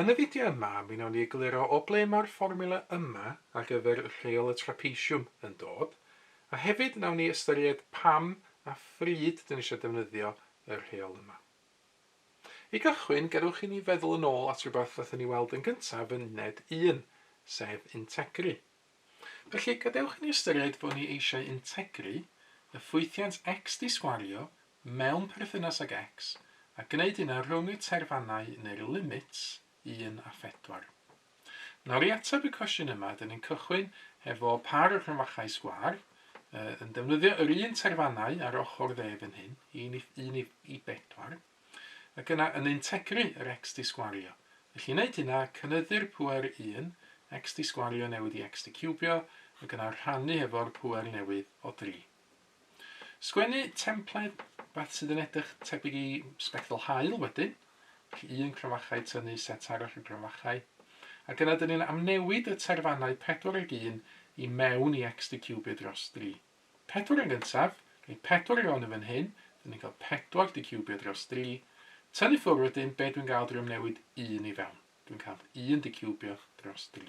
Yn y fideo yma, mi wnawn ni egluro o ble mae'r fformiwla yma ar gyfer rheol y trapeisiwm yn dod, a hefyd wnawn ni ystyried pam a phryd dyn ni eisiau defnyddio y rheol yma. I gychwyn, gadewch i ni feddwl yn ôl at rhywbeth wnaethon ni weld yn gyntaf yn uned un, sef integru. Felly, gadewch i ni ystyried fod ni eisiau integru y ffwythiant x disgwario mewn perthynas ag X, a gwneud hyn ar rhwng y terfannau neu'r limits un a phedwar. Nawr, i ateb y cwestiwn yma, dyn ni'n cychwyn hefo par o rhyfachau sgwâr, uh, yn defnyddio yr un terfannau ar ochr dde fan hyn, un i, un i, i bedwar, ac yna yn integru yr x di sgwario. Felly, i wneud hynna, cynyddu'r pwer 1, x di sgwario newydd i x di cubio, ac yna rhannu hefo'r pwer newydd o 3. Sgwennu templed beth sydd yn edrych tebyg i sbectol haul wedyn, felly un cromfachau tynnu set arall o gromfachau, ac yna dyn ni'n amnewid y terfannau pedwar ag un i mewn i xdcubio dros dri. Pedwar yn gyntaf, rhoi pedwar i fewn yn fan hyn, dyn ni'n cael pedwar dcubio dros dri, tynnu ffwrdd wedyn, be dwi'n gael drwy amnewid un i fewn? Dwi'n cael un dcubio dros dri.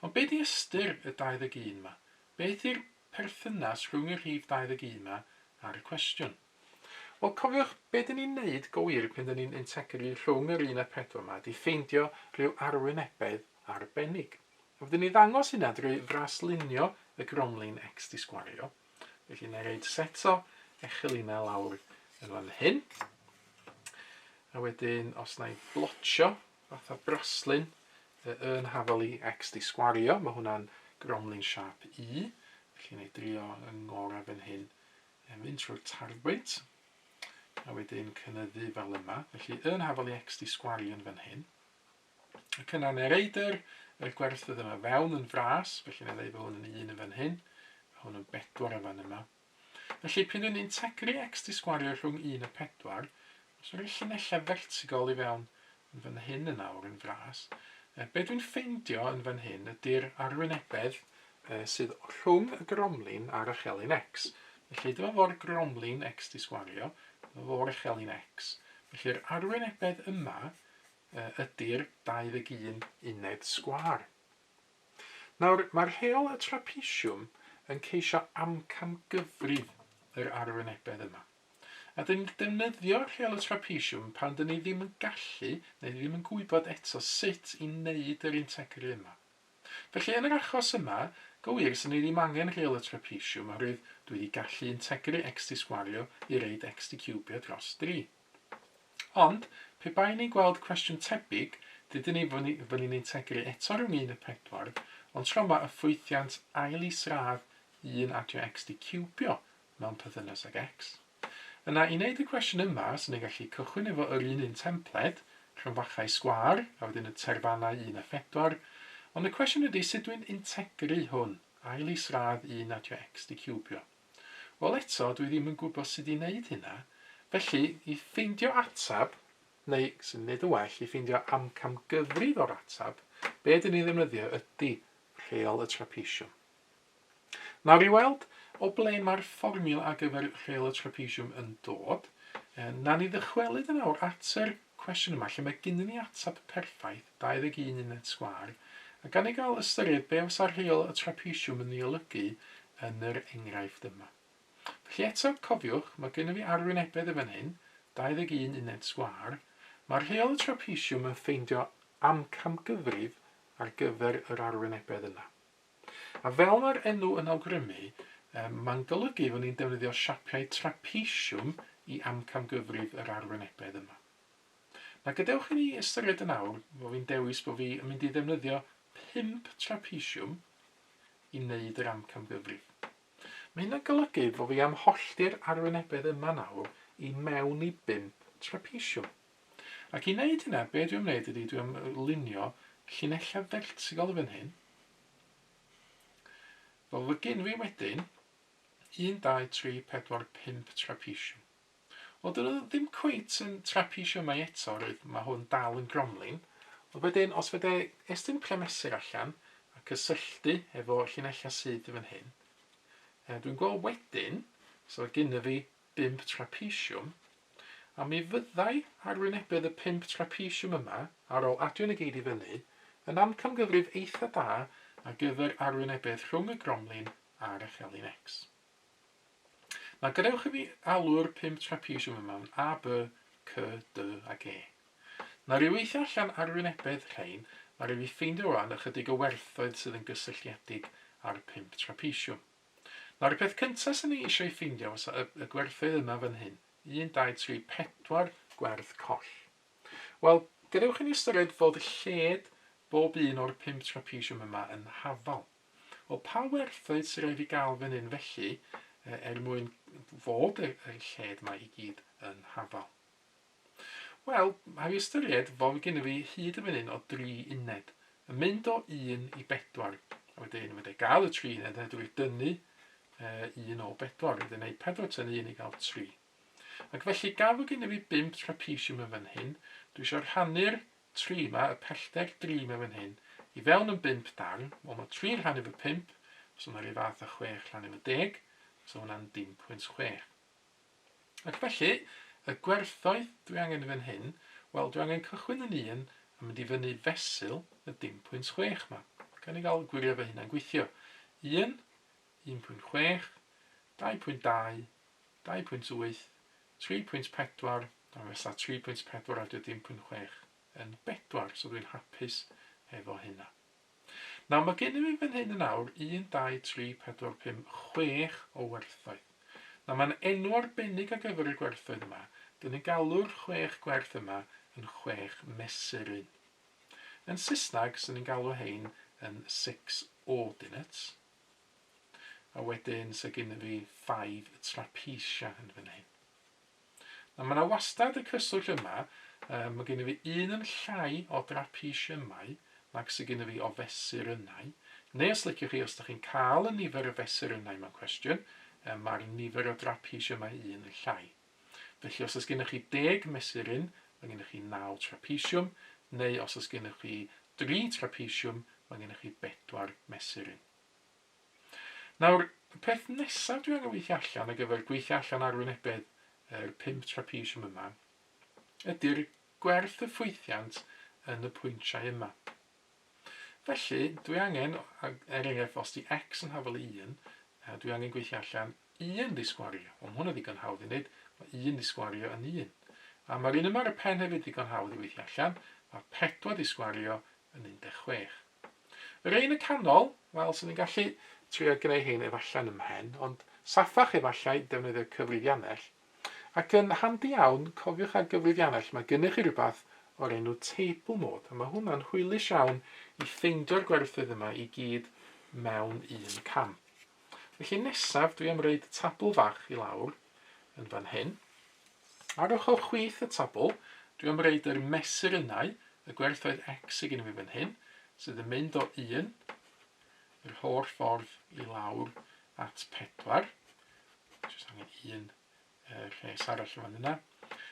Ond be di ystyr y 21 ma? Beth yw'r perthynas rhwng y rhif 21 ma a'r cwestiwn? Wel, cofiwch, be dyn ni'n neud go wir pan dyn ni'n integri rhwng yr un a pedwar ma di ffeindio rhyw arwynebedd arbennig. A fydden ni'n ddangos hynna drwy fraslunio y gromlin x di sgwario. Felly, na i roed set o echelyna lawr yn fan hyn. A wedyn, os na i blotio Fatha braslun fy yn hafal i ex di sgwario, ma hwnna'n gromlin siâp U, felly na i drio yng ngora fan hyn yn mynd trwy'r tarbwynt a wedyn cynyddu fel yma, felly yn hafal i ex di sgwario yn fan hyn. Y cynnar neu'r eidr, yr gwerthydd yma fewn yn fras, felly na i ddeu bod hwn yn un yn fan hyn, a hwn yn bedwar yn fan yma, Felly, pryd yn integri x di sgwario rhwng 1 a 4, os roi llinellau fertigol i fewn yn fan hyn yn awr yn fras, yy be dwi'n ffeindio yn fan hyn ydy'r arwynebedd yy sydd rhwng y gromlin a'r echelin x. Felly, dyma fo'r gromlin x di sgwario, dyma fo'r echelin x. Felly'r arwynebedd yma yy ydy'r 21 uned sgwar. Nawr, mae'r heol y trapesiwm yn ceisio amcangyfri yr arwynebedd yma. A dyn ni'n defnyddio rheol y trapesiwm pan dyn ni ddim yn gallu neu ddim yn gwybod eto sut i wneud yr integri yma. Felly, yn yr achos yma, go wir, 'sen ni ddim angen rheol y trapesiwm oherwydd dwi wedi gallu integri x di sgwario i reid x di ciwbio dros dri. Ond, pe baen ni'n gweld cwestiwn tebyg, dydyn ni fynnu, fynnu ni'n tegru eto rhwng un a phedwar, ond tro yma y ffwythiant ail isradd un adio x di ciwbio mewn pythynas ag x. Yna, i wneud y cwestiwn yma, swn ni'n gallu cychwyn efo yr un un templed, rhyngfachau sgwâr, a wedyn y terfannau un a phedwar, ond y cwestiwn ydy sut dwi'n integru hwn, ail isradd un adio x di ciwbio. Wel eto, dwi ddim yn gwybod sut i wneud hynna, felly, i ffeindio ateb, neu, sy'n mynd i wneud yn well, i ffeindio amcamgyfrif o'r ateb, be dyn ni'n ddefnyddio ydy rheol y trapesiwm. Nawr i weld o ble mae'r fformiwla ar gyfer rheol y trapesiwm yn dod, na ni ddychwelyd yn awr at yr cwestiwn yma lle mae gennyn ni ateb perffaith, 21 uned sgwâr, a gan i gael ystyried be fysa rheol y trapesiwm yn ei olygu yn yr enghraifft yma. Felly eto, cofiwch, mae gennyn ni arwynebedd yn fan hyn, 21 uned sgwâr, mae rheol y trapesiwm yn ffeindio amcamgyfrif ar gyfer yr arwynebedd yna. A fel mae'r enw yn awgrymu, mae'n golygu fod ni'n defnyddio siapiau trapeisiwm i amcamgyfrif yr arwynebedd yma. Na gadewch i ni ystyried yn awr fod fi'n dewis bod fi yn mynd i ddefnyddio pump trapeisiwm i wneud yr amcamgyfrif. Mae hynna'n golygu fod fi am hollti'r arwynebedd yma nawr i mewn i bump trapeisiwm. Ac i wneud hynna, be' dwi am wneud ydi dwi am lunio llinella' fertigal fan hyn. Fel fy gyn fi wedyn, 1, 2, 3, 4, 5 trapesiwm. Wel, dyn nhw ddim cweit yn trapesiwmau eto, roedd mae hwn dal yn gromlin. Ond wedyn, os fydde estyn premesur allan a cysylltu efo llinella' sydd fan hyn, dwi'n gweld wedyn, so gynna fi bump trapesiwm, a mi fyddai arwynebedd y pump trapesiwm yma, ar ôl adio negeidd i fyny, yn amcamgyfrif eitha da ar gyfer arwynebedd rhwng y gromlin a'r echelin X. Na gadewch i fi alw'r pump trapesiwm yma'n A, B, C, D ac E. Na ryw weithio allan arwynebedd rhain, na ryw fi ffeindio rwan ychydig o werthoedd sydd yn gysylltiedig â'r pump trapesiwm. Nawr y peth cynta swn i eisiau ei ffeindio fysa y, y gwerthydd yma fan hyn. 1, 2, 3, 4 gwerth coll. Wel, gadewch i ni ystyried fod lled bob un o'r pump trapesiwm yma yn hafal. Wel, pa werthoedd sy'n rhaid i gael fan hyn felly, e, er mwyn fod y, y lled yma i gyd yn hafal? Wel, mae i ystyried fod gennym fi hyd y menyn o dri uned, yn mynd o un i bedwar, a wedyn fydda i gael y tri uned, a dwi wedi dynnu uh, un o bedwar, wedyn ei pedwar ten un i gael tri. Ac felly gaf fod gennym fi bimp trapesiwm yn fan hyn, dwi eisiau rhannu'r tri yma, y pellter dri yma fan hyn, i fewn yn bimp darn, wel mae tri rhan efo pimp, os yna rhyw fath o chwech rhan efo deg, so hwnna'n dim pwynt chwech. Ac felly, y gwerthoedd dwi angen yn fan hyn, wel, dwi angen cychwyn yn un a mynd i fyny fesul y dim pwynt chwech 'ma. Gawn ni gael gwirio fy hunan gweithio. Un, un pwynt chwech, dau pwynt dau, dau pwynt wyth, tri pwynt pedwar, a fesa tri pwynt pedwar a dim pwynt chwech yn bedwar, so dwi'n hapus efo hynna. Nawr, mae gennym ni fan hyn yn awr 1, 2, 3, 4, 5, 6 o werthoedd. Nawr, mae'n enw arbennig ar gyfer y gwerthoedd yma. Dyn ni'n galw'r chwech gwerth yma yn chwech mesur un. Yn Saesneg, sy'n ni'n galw hein yn six ordinates. A wedyn, sy'n gynnu fi 5 trapesia yn fan hyn. Nawr mae 'na wastad y cyswllt yma, yy ma' gynno fi un yn llai o drapesiymau nag sy gynno fi o fesurynnau, neu os liciwch chi, os dach chi'n cael y nifer o fesurynnau mewn cwestiwn, yy ma'r nifer o drapesiymau un yn llai. Felly os oes gennych chi deg mesuryn, ma' gennych chi naw trapesiwm, neu os oes gennych chi dri trapesiwm, ma' gennych chi bedwar mesuryn. Nawr, y peth nesaf dwi angen weithio allan ar gyfer gweithio allan arwynebedd yr pump trapesiwm yma ydy'r gwerth y ffwythiant yn y pwyntiau yma. Felly, dwi angen, er enghraifft, os di x yn hafal i 1, a dwi angen gweithio allan 1 di sgwario. Wel, mae hwnna ddigon hawdd i wneud. Mae 1 di sgwario yn 1. A mae'r un yma ar y pen hefyd ddigon hawdd i weithio allan. Mae 4 di sgwario yn 16. Yr un y canol, wel, swn i'n gallu trio gwneu hein efalle'n ym mhen, ond saffach efallai defnyddio cyfrifianell. Ac yn handi iawn, cofiwch ar gyfrifianell mae gynnych chi rywbeth o'r enw table mode, a mae hwnna'n hwylus iawn i ffeindio'r gwerthoedd yma i gyd mewn un cam. Felly nesaf dwi am roid tabl fach i lawr yn fan hyn. Ar ochr chwith y tabl dwi am roid yr mesurynau, y gwerthoedd X sy gen i fi fan hyn, sydd yn mynd o 1 yr holl ffordd i lawr at 4. Jyst angen un y lles arall yn fan yna.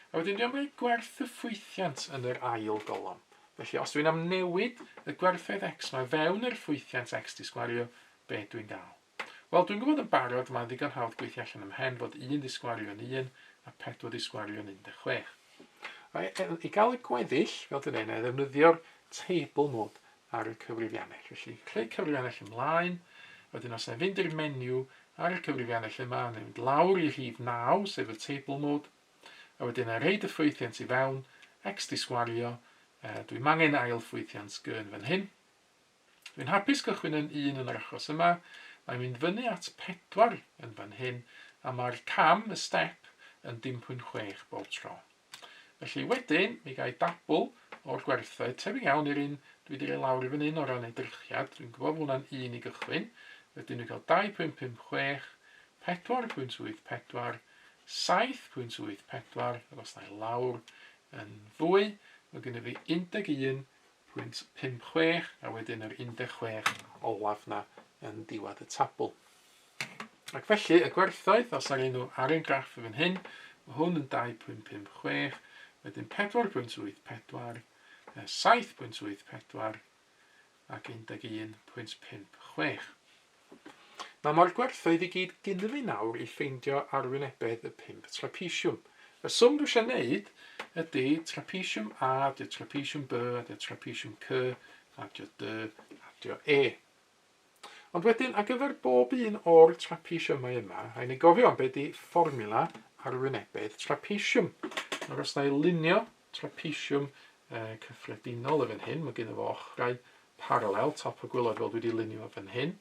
A wedyn dwi am roi gwerth y ffwythiant yn yr ail golofn. Felly os dwi'n amnewid y gwerthoedd x mae fewn yr ffwythiant x di sgwario, be dwi'n gael? Wel, dwi'n gwybod yn barod, mae'n ddigon hawdd gweithio allan ym hen fod 1 di sgwario yn 1 a 4 di sgwario yn 16. I gael y gweddill, fel dwi'n ei, na i ddefnyddio'r table mode. ar y cyfrifiannell. Felly, creu cyfrifiannell ymlaen, wedyn os na i fynd i'r menu ar y cyfrifiannell yma, na i fynd lawr i rhif 9, sef y Table Mode, a wedyn na i reid y ffwythiant i fewn, X di sgwario, e, dwi'n angen ail ffwythiant sgy yn fan hyn. Dwi'n hapus cychwyn yn 1 yn yr achos yma, mae'n mynd fyny at 4 yn fan hyn, a mae'r cam, y step, yn 0.6 bob tro. Felly wedyn mi gai dabl o'r gwerthoedd tebyg iawn i'r un dwi di roi lawr i fan hyn o ran edrychiad, dwi'n gwybod fod hwnna'n un i gychwyn, wedyn dwi'n cael 2.56, 4.84, 7.84 ac os na i lawr yn fwy mae gennyf fi 11.56 a wedyn yr 16 olaf na yn diwadd y tabl. Ac felly, y gwerthoedd, os ar enw ar ein graff yn fan hyn, mae hwn yn 2.556, wedyn 4.84, 7.84 ac 11.56. Mae mor gwerthoedd i gyd gynnu fi nawr i ffeindio arwynebedd y pump trapesiwm. Y swm dwi eisiau gwneud ydy trapesiwm A, dio trapesiwm B, a dio trapesiwm C, a dio D, a dio E. Ond wedyn, ar gyfer bob un o'r trapeisiymau yma, rhaid ni gofio am be di fformula arwynebedd trapeisiwm. Nawr, os na i lunio trapeisiwm e, cyffredinol y fan hyn, mae gen fo ochrau paralel, top y gwylod fel dwi wedi lunio fan hyn.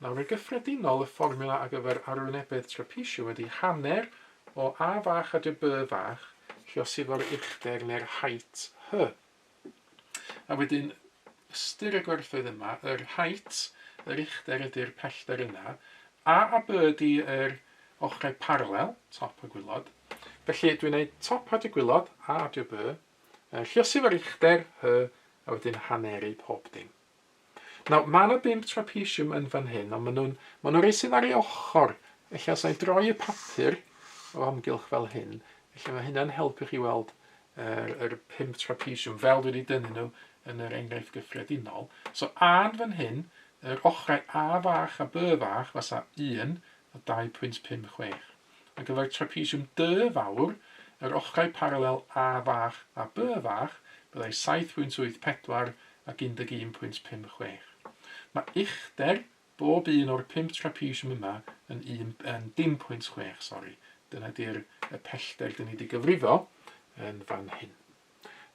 Nawr, yn gyffredinol, y fformula ar gyfer arwynebedd trapeisiwm ydy hanner o a fach a dy by fach, chi os efo'r uchder neu'r height hy. A wedyn, ystyr y gwerthoedd yma, yr height, yr uchder ydy'r pellter yna, a a b ydy yr ochrau parallel, top a gwylod. Felly dwi'n gwneud top a dy gwylod, a adio b, lluosif yr uchder, hy, a wedyn haneru pob dim. Nawr, mae yna bump trapesiwm yn fan hyn, ond maen nhw'n, maen nhw'n rhai sydd ar ei ochr. Felly, os a'i droi y papur o amgylch fel hyn, felly mae hynna'n helpu chi weld yr, yr pump trapesiwm, fel dwi wedi dynnu nhw yn yr enghraifft gyffredinol. So, a'n fan hyn, yr ochrau A fach a B fach, fasa 1 a 2.56. Ar gyfer trapesiwm D fawr, yr ochrau paralel A fach a B fach, byddai 7.84 ac 11.56. Mae uchder bob un o'r pump trapesiwm yma yn 1.6, sori, dyna 'di'r pellter dyn ni wedi gyfrifo yn fan hyn.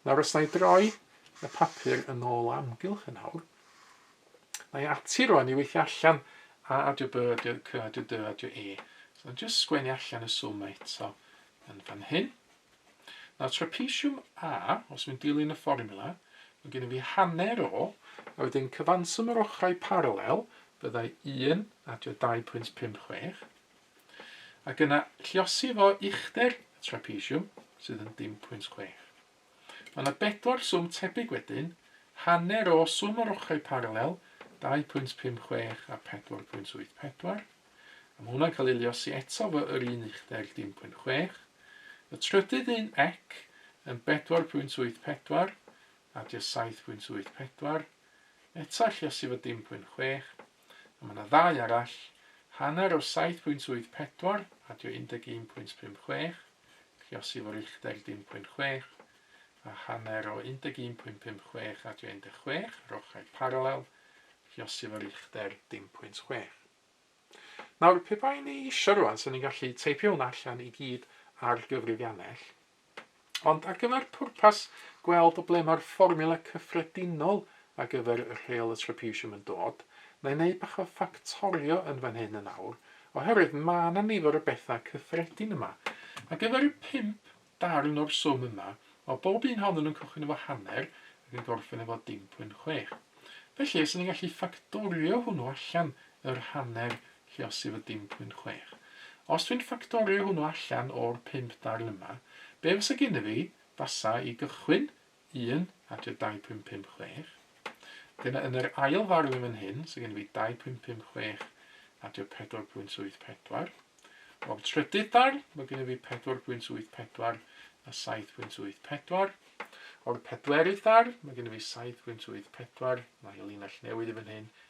Nawr os na i droi y papur yn ôl o amgylch yn awr, na i ati rwan i weithio allan a adio B, adio C, adio D, adio E. So na just sgwennu allan y swm mae eto yn fan hyn. Nawr trapesiwm A, os mi'n dilyn y fformula, mae gen i fi hanner o, a wedyn cyfanswm yr ochrau paralel, byddai 1 adio 2.56, ac yna lliosi fo uchder y trapesiwm, sydd yn 0.6. Mae yna bedwar swm tebyg wedyn, hanner o swm yr ochrau paralel, 2.56 a 4.84, a mae hwnna'n cael ei liosi eto fo yr un uchder 0.6, y trydydd un ec yn 4.84 a dio 7.84, eto lliosi fo 0.6, A mae 'na ddau arall, hanner o 7.84, adio 11.56, Lliosi fo Richter 10.6, a hanner o 11.56 adio 16, yr ochrau paralel, Lliosi fo Richter 10.6. Nawr, pe bai ni eisiau rwan, so ni'n gallu teipio hwnna allan i gyd ar gyfrifiannell, Ond ar gyfer pwrpas gweld o ble mae'r fformiwla cyffredinol ar gyfer y rheol y Trapezium yn dod, na i wneud bach o ffactorio yn fan hyn yn awr, oherwydd ma' 'na nifer o bethau cyffredin yma. Ar gyfer y pump darn o'r swm yma, o bob un ohonyn nhw'n cychwyn efo hanner ac yn gorffen efo dim pwynt chwech. Felly, os 'yn ni'n gallu ffactorio hwnnw allan, yr hanner Lle os yw y dim pwynt chwech? Os dwi'n ffactorio hwnnw allan o'r pump darn yma, be fasa gynna fi? Fasa, i gychwyn, un a tua dau pwynt pump chwech. Dyna yn yr ail ddarn yn fan hyn, so gynna fi dau pwynt pump chwech a tua pedwar pwynt wyth pedwar. O'r trydydd darn, mae gynna fi pedwar pwynt wyth pedwar a saith pwynt wyth pedwar. O'r pedwerydd darn, mae gynna fi saith pwynt wyth pedwar, mae linell newydd i fan hyn,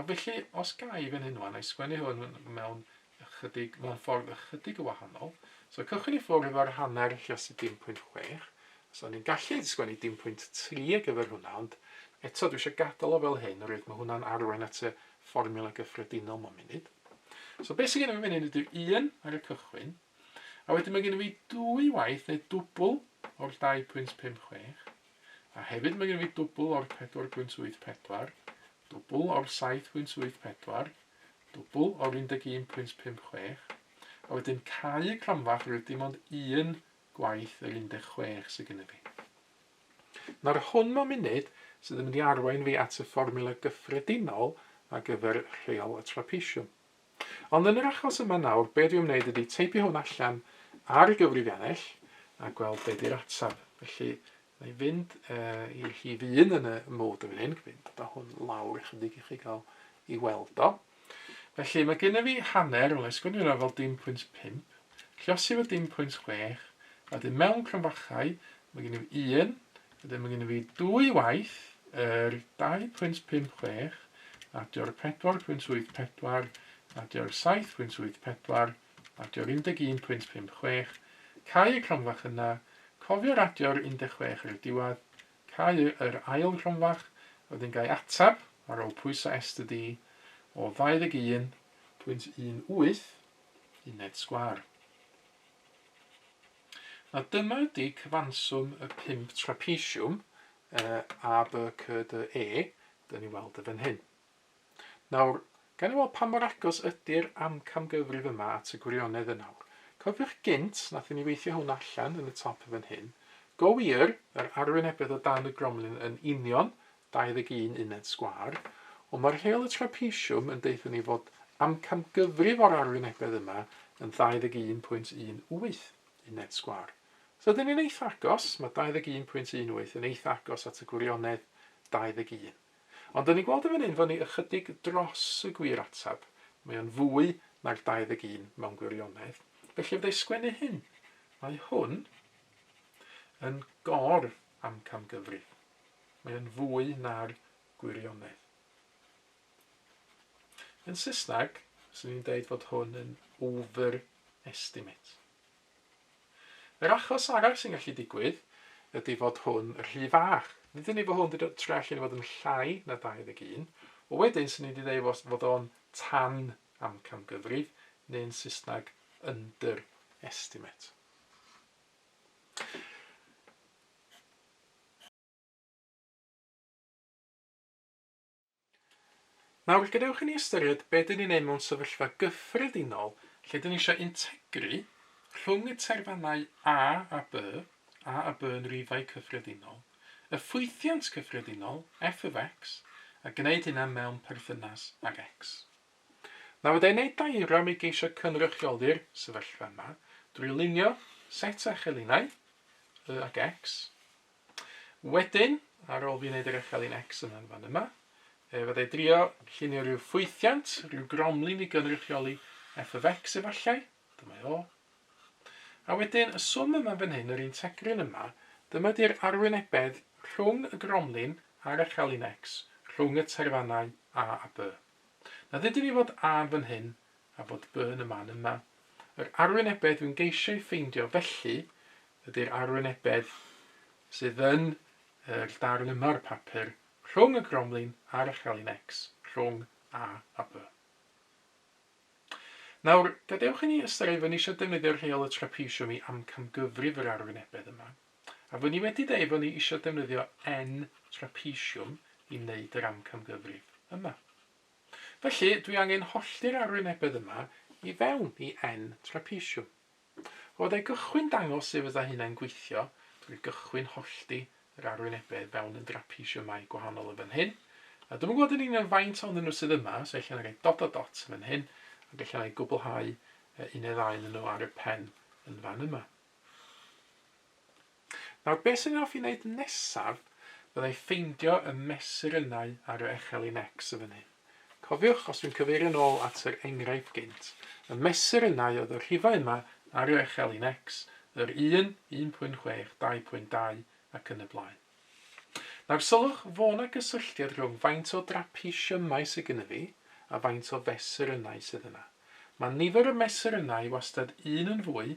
Ac felly, os ga i fan hyn ŵan, a'i sgwennu hwn mewn ychydig, mewn ffordd ychydig y wahanol. So, cychwyn i ffwrdd efo'r hanner rhasi dim pwynt chwech. So, ni'n gallu sgwennu dim pwynt tri ar gyfer hwnna, ond eto, dwi eisiau gadael o fel hyn, oherwydd mae hwnna'n arwain at y fformiwla gyffredinol mae'n munud. So, beth sy'n gen i fi fan hyn ydyw un ar y cychwyn, a wedyn mae gen i fi dwy waith neu dwbl o'r 2.56, A hefyd mae gen i fi dwbl o'r 4.84, dwbl o'r 7.84, dwbl o'r 11.56, a wedyn cau y cronfa oherwydd dim ond un gwaith yr 16 sydd gen i fi. Nawr hwn mewn munud sydd yn mynd i arwain fi at y fformiwla gyffredinol ar gyfer rheol y trapesiwm. Ond yn yr achos yma nawr, be dwi'n wneud ydy teipio hwn allan ar y gyfrifiannell a gweld be di'r ateb. Felly, na i fynd uh, i rhif un yn y mod yn fan hyn, fynd da hwn lawr ychydig i chi gael i weld o. Felly, mae gen i fi hanner, rwy'n sgwini yna fel dim pwynt 5, llosi fo dim pwynt 6, a dyn mewn crynfachau, mae gen i fi 1, Wedyn mae gen i fi dwy waith, yr 2.56 adio'r 4.84 adio'r 7.84 adio'r 11.56, cau y cromfach yna, cofio radio'r 16 ar y diwedd, cau yr ail gromfach, wedyn gai atab ar ôl pwyso est y di o 21.18 uned sgwar. A dyma ydy cyfanswm y pump trapesiwm, yy, A, B, C, D, E, dyn ni'n weld y fan hyn. Nawr, gan i weld pa mor agos ydy'r amcamgyfrif yma at y gwirionedd yn awr. Cofiwch gynt, nathon ni weithio hwn allan yn y top y fan hyn. Go wir, yr arwynebedd o dan y gromlin yn union 21 uned sgwâr, ond mae rheol y trapeisiwm yn deutha ni fod amcamgyfrif o'r arwynebedd yma yn 21.18 uned sgwâr. Os ydyn ni'n eitha agos, mae 21.18 yn eitha agos at y gwirionedd 21. Ond 'dyn ni'n gweld yn fan hyn fo' ni ychydig dros y gwir ateb, mae o'n fwy na'r 21 mewn gwirionedd, felly fydda i sgwennu hyn, mae hwn yn gor-amcamgyfrif. Mae o'n fwy na'r gwirionedd. Yn Saesneg, swn i'n deud fod hwn yn overestimate. Yr achos arall sy'n gallu digwydd ydy fod hwn rhy fach. Nid ni fod hwn wedi dod tre allan i fod yn llai na 21, o wedyn swn i wedi dweud fod, fod o'n tan amcamgyfrif, neu'n Saesneg underestimate. Nawr, gadewch i ni ystyried be dyn ni'n ei mewn sefyllfa gyffredinol lle dyn ni eisiau integru rhwng y terfynau a a by, a a by yn rifau cyffredinol, y ffwythiant cyffredinol, f of x, a gwneud hynna mewn perthynas ag x. Nawr fydda i'n neud diagram i geisio cynrychioli'r sefyllfa yma drwy lunio set a chelinau, Y ac X. Wedyn, ar ôl fi wneud yr echelin X yna yn fan yma, e, fydda i drio llunio rhyw ffwythiant, rhyw gromlin i gynrychioli F of X efallai, dyma o. A wedyn, y swm yma fan hyn, yr un tegryn yma, dyma di'r arwynebedd rhwng y gromlin a'r echelin X, rhwng y terfannau A a B. Na ddudwn i fod Ann fan hyn a bod Burn y man yma. Yr arwynebedd dwi'n geisio ei ffeindio felly ydy'r arwynebedd sydd yn yr darn yma o'r papur rhwng y gromlin a'r echelin X, rhwng A a B. Nawr, gadewch i ni ystyried fod ni eisiau defnyddio'r rheol y trapesiwm i amcamgyfrif yr arwynebedd yma. A fy ni wedi deud fo ni isio defnyddio N trapesiwm i wneud yr amcamgyfrif yma. Felly, dwi angen hollti'r arwynebedd yma i fewn i N trapesiwm. O dai gychwyn dangos sut fydda hynna'n gweithio, drwy gychwyn hollti yr arwynebedd fewn yn drapesiwmau gwahanol yn fan hyn, a dwi'm yn gwybod yn union faint o'n nhw sydd yma, so ella na roi dot a dot yn fan hyn, ac ella na i gwblhau un neu ddau yn nhw ar y pen yn fan yma. Nawr beth sy'n hoffi wneud nesaf, bydda i ffeindio y mesurynau ar y echelin X yn fan hyn. Cofiwch, os dwi'n cyfeirio'n ôl at yr enghraifft gynt, y mesurynau oedd y rhifau yma ar y echelin X, yr 1, 1.6, 2.2 ac yn y blaen. Nawr sylwch fo' 'na gysylltiad rhwng faint o drapeisiymau sy gynna fi a faint o fesurynau sydd yna. Mae nifer y mesurynau wastad un yn fwy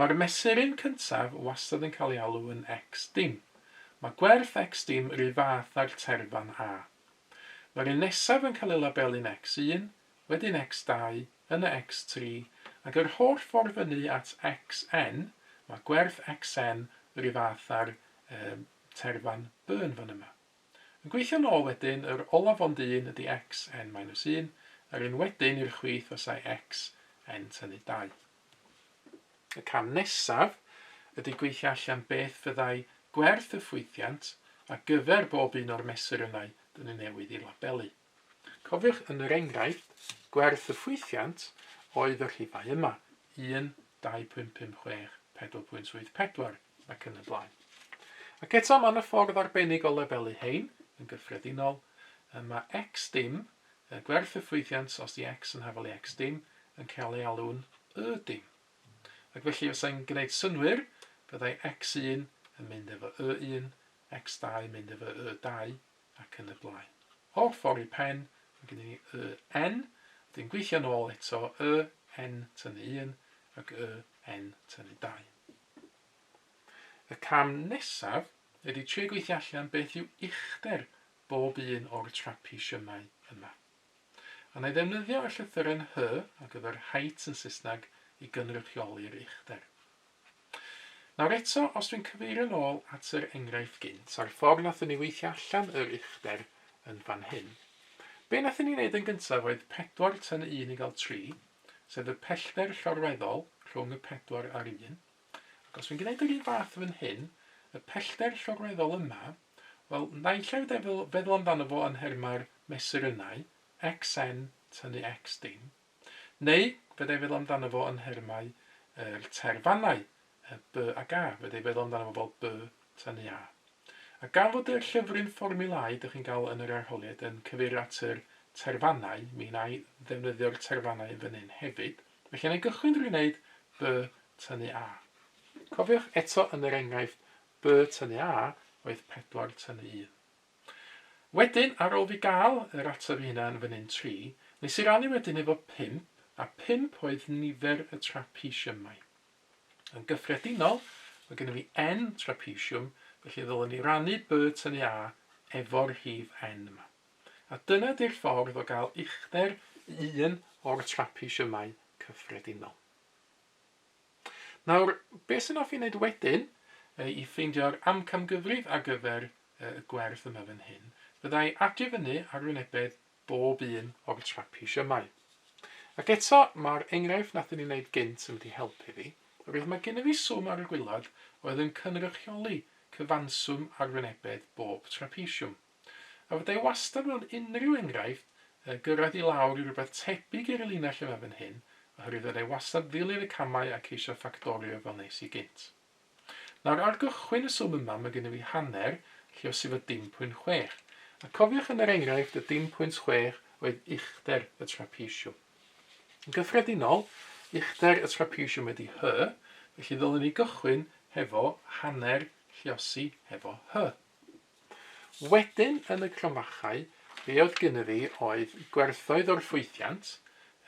Mae'r mesuryn cyntaf wastad yn cael ei alw yn X-dim. Mae gwerth X-dim ry fath â'r terfan A. Mae'r un nesaf yn cael ei labelu'n X-un, wedyn X-dau, yna X-tri, ac yr holl ffordd fyny at Xn, mae gwerth Xn ry fath â'r um, terfan Burn fan yma. Yn gweithio nôl wedyn, yr olaf ond un ydy Xn minus un, a'r un wedyn i'r chwith os ai Xn tynnu dau. Y cam nesaf ydy gweithio allan beth fyddai gwerth y ffwythiant ar gyfer bob un o'r mesurynau dŷn ni newydd eu labelu. Cofiwch yn yr enghraifft, gwerth y ffwythiant oedd y rhifau yma, 1, 2.556, 4.74. ac yn y blaen. Ac eto mae yna ffordd arbennig o lefelu hein, yn gyffredinol, mae x dim, gwerth y ffwythiant os di x yn hafal i x dim, yn cael ei alw'n y dim. Ac felly os ein gwneud synwyr, byddai x1 yn mynd efo y1, x2 yn mynd efo y2, ac yn y blaen. O'r ffordd i pen, mae gen i ni y n, wedyn gweithio nôl eto y n tynnu 1 ac y n tynnu 2. Y cam nesaf ydy trio gweithio allan beth yw uchder bob un o'r trapesiynau yma. A wna i ddefnyddio y llythyren H ar gyfer height yn Saesneg i gynrychioli'r uchder. Nawr eto, os dwi'n cyfeirio'n ôl at yr enghraifft gynt a'r ffordd nathon ni weithio allan yr uchder yn fan hyn. Be nathon ni wneud yn gyntaf oedd pedwar tan un i gael tri, sef y pellter llorweddol rhwng y pedwar a'r un, ac os fi'n gwneud yr un fath fan hyn, y pellter llorweddol yma, wel, naill ai feddwl, feddwl amdano fo yn nhermau'r mesurynau, xn tynnu x dim, neu fydda i'n feddwl amdano fo yn nhermau yr terfannau, Y by a ga, fedra i feddwl amdano fo fel by, tynnu a. A gan fod y llyfryn fformiwlâu dych chi'n gael yn yr arholiad yn cyfeirio at yr terfannau, mi wna i ddefnyddio'r terfannau yn fan hyn hefyd. Felly, wna i gychwyn drwy wneud by, tynnu a. Cofiwch eto yn yr enghraifft, by, tynnu a oedd 4, tynnu 1. Wedyn, ar ôl fi gael yr ateb i hynna yn fan hyn, 3, wnes i rannu wedyn efo 5, a 5 oedd nifer y trapesiymau. Yn gyffredinol, mae gennym ni N trapezium, felly ddylem ni rannu by tynnu A efo'r rhif N yma. A dyna di'r ffordd o gael uchder un o'r trapeziymau cyffredinol. Nawr, beth sy'n offi wneud wedyn i ffeindio'r amcamgyfrif ar gyfer y gwerth yma fan hyn, fyddai adio fyny arwynebedd bob un o'r trapish ymau. Ac eto, mae'r enghraifft nathon ni wneud gynt yn mynd i helpu fi, oherwydd mae gynno fi swm ar y gwilod oedd yn cynrychioli cyfanswm arwynebedd bob trapishwm. A fydda i wastad mewn unrhyw enghraifft yn gyrraedd i lawr i rywbeth tebyg i'r linell yma fan hyn, oherwydd fydda i wastad ddilyn y camau a ceisio ffactorio fel wnes i gynt. Nawr, ar gychwyn y swm yma, mae gennym ni hanner, lle os yw y dim pwynt chwech. A cofiwch yn yr enghraifft, y dim pwynt chwech oedd uchder y trapesiwm. Yn gyffredinol, uchder y trapesiwm ydy hy, felly ddylwn ni gychwyn hefo hanner lliosi hefo hy. Wedyn, yn y cromfachau, be oedd gynnu fi oedd gwerthoedd o'r ffwythiant,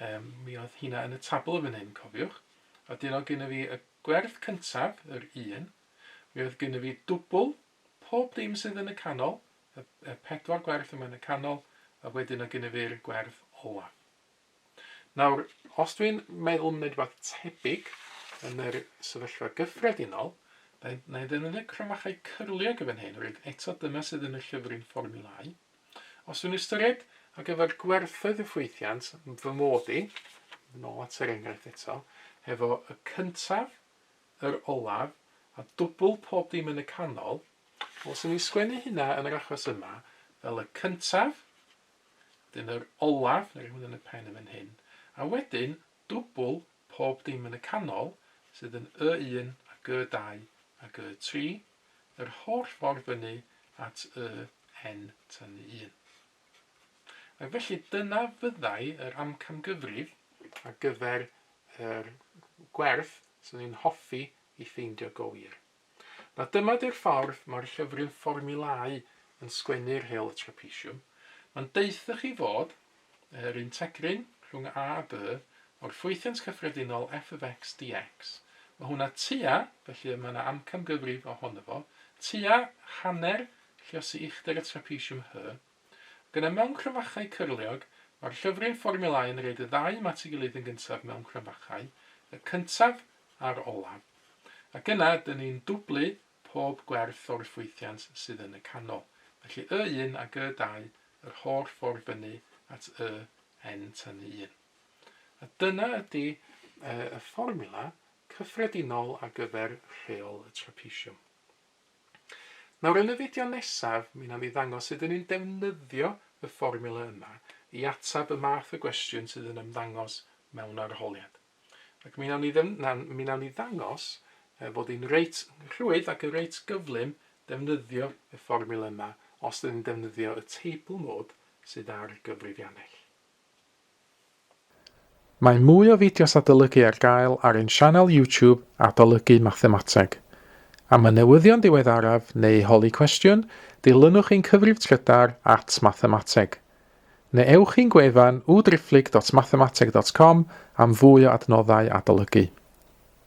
um, mi oedd hynna yn y tabl yn fan hyn, cofiwch, a dyn oedd gynnu fi y Gwerth cyntaf, yr un. Mi oedd gynno fi dwbl, pob dim sydd yn y canol, y y pedwar gwerth yma yn y canol, a wedyn oedd gynno fi'r gwerth olaf. Nawr, os dwi'n meddwl am wneud rhywbeth tebyg yn yr sefyllfa gyffredinol, na i na i ddefnyddio cromachau cyrliog yn fan hyn, reit, eto dyma sydd yn y llyfryn fformiwlâu. Os yw'n ystyried ar gyfer gwerthoedd y ffwythiant fy mod i, yn ôl at yr enghraifft eto, hefo y cyntaf, yr olaf, a dwbl pob dim yn y canol, wel, 'swn i'n sgwennu hynna yn yr achos yma fel y cyntaf, wedyn yr olaf, neu rhywun yn y pen yn fan hyn, a wedyn dwbl pob dim yn y canol, sydd yn Y1 ac Y2 ac Y3, yr holl ffordd fyny at Y Hen Tynu Un. Ac felly dyna fyddai yr amcamgyfrif ar gyfer yr gwerth swn i'n hoffi i ffeindio go wir. Na dyma di'r ffordd mae'r llyfryn fformiwlâu yn sgwennu'r hel y trapesiwm, mae'n deuthoch chi fod Yr integryn rhwng A a B o'r ffwythiant cyffredinol f of x dx. Mae hwnna tua, felly y mae yna amcamgyfrif o hono fo, tua hanner lluosi uchder y trapesiwm hy. Ac yna mewn cromfachau cyrliog, mae'r llyfryn fformiwlâu yn roed y ddau yma at ei gilydd yn gyntaf mewn cromfachau, y cyntaf a'r olaf. Ac yna, dyn ni'n dwblu pob gwerth o'r ffwythiant sydd yn y canol, felly y un ag y dau yr holl ffordd fyny at y n tynnu un. A dyna ydy y fformula cyffredinol ar gyfer rheol y trapesiwm. Nawr yn y fideo nesaf, mi na ni ddangos sut dyn ni'n defnyddio y fformula yma i atab y math o gwestiwn sydd yn ymddangos mewn arholiad. Ac mi nawn ni ddim, na, mi nawn ni ddangos e, bod hi'n reit rhwydd ac yn reit gyflym defnyddio y fformiwla yma os ydyn ni'n defnyddio y teibl mod sydd ar y gyfrifiannell. Mae mwy o fideos adolygu ar gael ar ein sianel YouTube Adolygu Mathemateg. Am y newyddion diweddaraf neu holi cwestiwn, dilynwch ein cyfrif trydar at Mathemateg. Neu ewch i'n gwefan www.driphlyg.mathemateg.com am fwy o adnoddau adolygu.